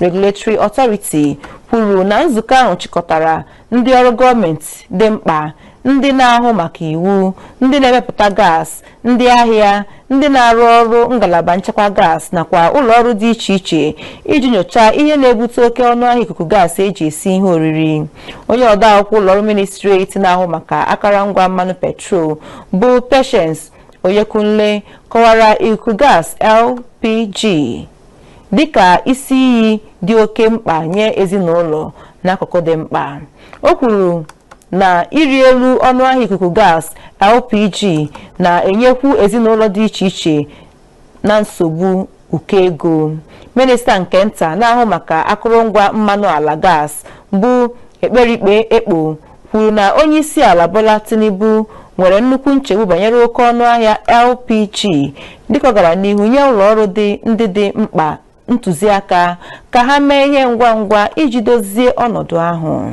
Regulatory Authority kwuru na nzukọ ahụ chịkọtara ndị ọrụ gọọmenti dị mkpa ndị na-ahụ maka iwu ndị na-emepụta gas ndị ahịa ndị na-arụ ọrụ ngalaba nchekwa gas nakwa ụlọ ọrụ dị iche iche iji nyochaa ihe na-ebute oke ọnụ ahịa ikuku gas eji esi ihe oriri onye ode akwụkwọ ụlọ ọrụ ministri etiti na-ahụ maka akụrụngwa mmanụ petrol bụ Patience Oyekunle kọwara ikuku gas LPG dịka isi iyi dị oke mkpa nye ezinụlọ n'akụkụ dị mkpa o kwuru na ịrị elu ọnụahịa ikuku gas LPG na-enyekwu ezinụlọ dị iche iche na nsogbu ụkọ ego minista nke nta na-ahụ maka akụrụngwa mmanụ ala gas bụ Ekperikpe Ekpo kwuru na onyeisiala Bola Tinubu nwere nnukwu nchegbu banyere oke ọnụahịa LPG dịka ọ gara n'ihu nye ụlọọrụ dị ndị dị mkpa ntụziaka ka ha mee ihe ngwa ngwa iji dozie ọnọdụ ahụ.